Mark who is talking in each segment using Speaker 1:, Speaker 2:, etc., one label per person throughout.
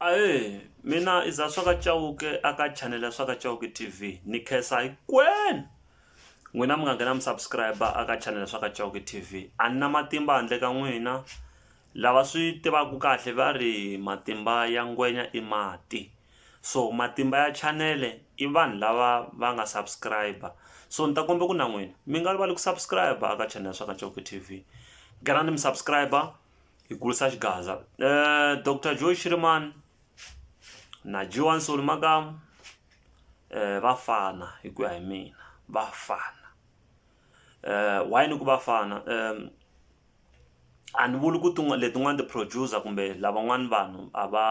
Speaker 1: Ahee mina i za swa ka Chauke a ka chanel ya swa ka Chauke T_V ni khensa hinkwenu n'wina mi nga nghena mi subscribe a ka chanel ya swa ka Chauke T_V a ni na matimba handle ka n'wina lava swi tivaka kahle va ri matimba ya ngwenya i mati so matimba ya chanele i vanhu lava va nga subscribe so ni ta kombela ku na n'wina mi nga rivali ku subscribe a ka chanel ya swa ka Chauke T_V nghenani mi subscribe hi kulisa xigaza um doctor joy shirimani na johanson makamu um va fana hi ku ya hi mina va fana um why ni ku va fana um a ni vuli ku tin'wana letin'wana ti-producer kumbe lavan'wana vanhu a va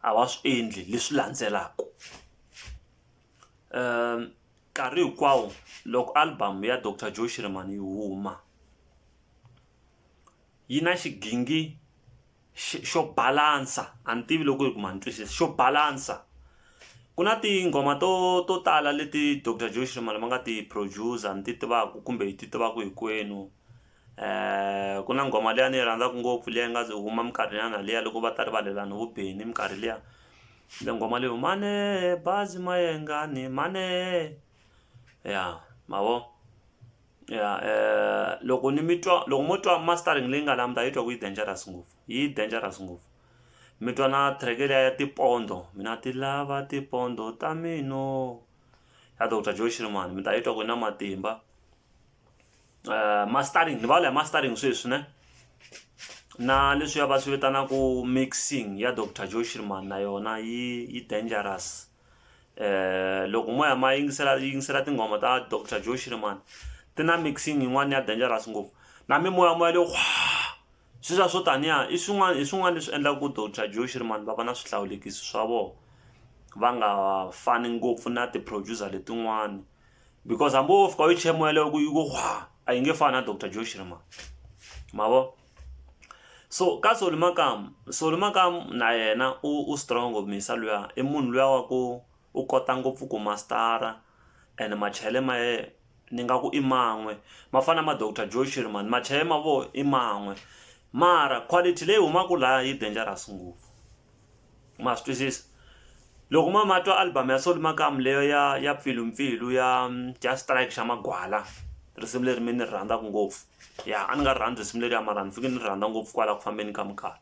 Speaker 1: a va swi endli leswi landzelaka um nkarhi hinkwawo loko album ya doctor joy shirimani yi huma yi na xigingi xo balance a ni tivi loko ku ma ni twisisa xo balance ku na tinghoma to to tala leti doctor Joe Shirimani va nga ti produce ni ti tivaka kumbe hi ti tivaka hinkwenu ku na nghoma liya ni yi rhandzaka ngopfu liya yi nga ze huma minkarhi nyana liya loko va ta rivalelana vo Benny minkarhi liya le nghoma leyi mane bazi mayengani mane ya ma vo. ya eh, loko ni mi twa loko mo twa mastering leyi nga la mi ta yi twa ku yi dangerous ngopfu yi dangerous ngopfu mi twa na track leya ya tipondo mina ti lava tipondo ta mino ya dr joe shirman mi ta yi twa ku na matimba eh, mastering ni vula ya mastering sweswi ne na leswi ya va swi vitanaku mixing ya dr joe shirman na yona yi yi dangerous loko mo ya ma yingisela yingisela tinghoma ta doctor joe shirimani ti na mixing yin'wana ya dangerous ngopfu na mimoya moya leyo sweswiya swo taniya i swin'wana hi swin'wana leswi endlaka ku doctor joe shirimani va va na swihlawulekisi swa vona va nga fani ngopfu na ti-producer letin'wana because hambi wo fika u yi chemoya leyo ku yi ku a yi nge fani na doctor joe shirimani ma vo. so ka Solly Makamu, Solly Makamu na yena u strong ngopfu muyisa luya i munhu luya wa ku u kota ngopfu ku mastara and machele ma yena ni nga ku i man'we ma fana ma doctor Joe Shirimani machele ma vona i man'we mara quality leyi humaka laha yi dangerous ngopfu. ma swi twisisa loko ma ma twa album ya soli makamu leyo ya ya pfilumpfilu ya ya strike xa magwala risimu leri mi ni ri rhandzaka ngopfu ya a ni nga ri rhandzi risimu leri ya mara ni fike ni ri rhandza ngopfu kwala ku fambeni ka minkarhi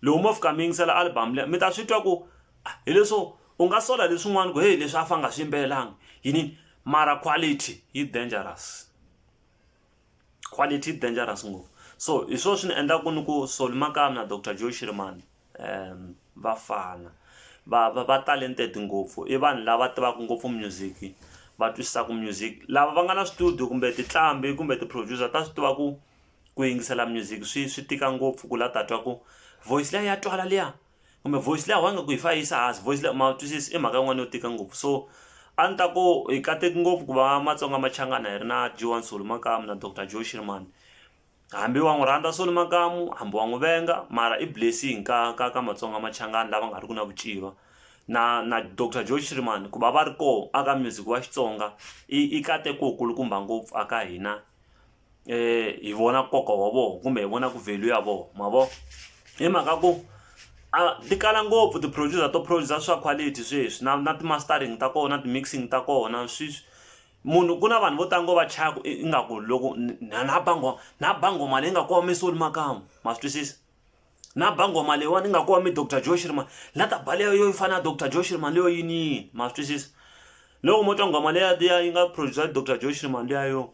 Speaker 1: loko mo fika mi yingisela album leyi mi ta swi twa ku ah, hi leswo u nga sola leswin'wana ku heyi leswi a fa nga swi yimbelelanga yini mara quality yi dangerous quality dangerous ngopfu so hi swona swi ni endlaka ni ku Solly Makamu na Doctor Joe Shirimani um va fana va va va talented ngopfu i vanhu lava tivaka ngopfu music va twisisaka music lava va nga na studio kumbe tinqambi kumbe ti-producer ta swi tiva ku ku yingisela music swi swi tika ngopfu ku la ta twa ku voice liya ya twala liya kumbe voice leyi a wu nge ku yi fanele yi yisa hansi voice leyi ma wu twisisi i mhaka yin'wana yo tika ngopfu so a ni ta ku hi kateki ngopfu ku va matsonga machangana hi ri na G one Soli makamu na doctor Joe xirimani hambi wa n'wi rhandza Soli makamu hambi wa n'wi venga mara i blessing ka ka ka matsonga machangani lava nga ri ki na ku civa na na doctor Joe xirimani ku va va ri koho a ka music wa Xitsonga i i nkateko wu kulukumba ngopfu a ka hina eh hi vona nkoka wa vona kumbe hi vona ku value ya vona ma vo hi mhaka ku a ti kala ngopfu ti producer to producer swa quality sweswi na na ti mastering ta kona ti mixing ta kona sweswi munhu ku na vanhu vo tala ngo va chaya ku ingaku loko na na bango na bango mali yi nga ku wami soli makamu ma swi twisisa na bango mali yiwani yi nga ku wami doctor joe shirman la ta bale yo yi fana na doctor joe shirman leyo yini yini ma swi twisisa loko mo twa nghoma leya liya yi nga producer doctor joe shirman liya yo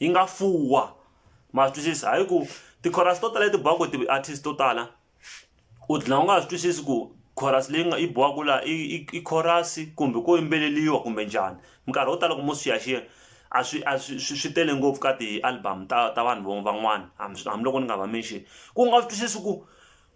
Speaker 1: yi nga fuwa ma swi twisisa hi ku ti-chorus to tala leti biwaka hi ti-artist to tala u dlina u nga ha swi twisisi ku chorus leyi nga yi biwaka laha i i i chorus kumbe ko yimbeleriwa kumbe njhani minkarhi yo tala ku mo xiyaxiya a swi a swi swi swi tele ngopfu ka ti-album ta ta vanhu vo van'wana hambiloko ni nga va mention ku nga swi twisisi ku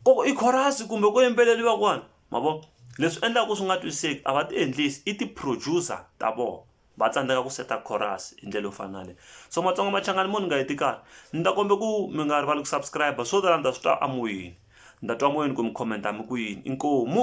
Speaker 1: ku i chorus kumbe ku yimbeleriwa kwani ma vo leswi endlaka ku swi nga twisiseki a va ti endlisi i ti-producer ta vona. va tsandzeka ku seta chorus hi ndlela yo fana na leyi so matsonga machangani mo ni nga heti karhi ni ta kombe ku mi nga rivali ku subscribe swo tala ni ta swi twa amoyeni ni ta twa moyeni ku mi commenta mi ku yini inkomu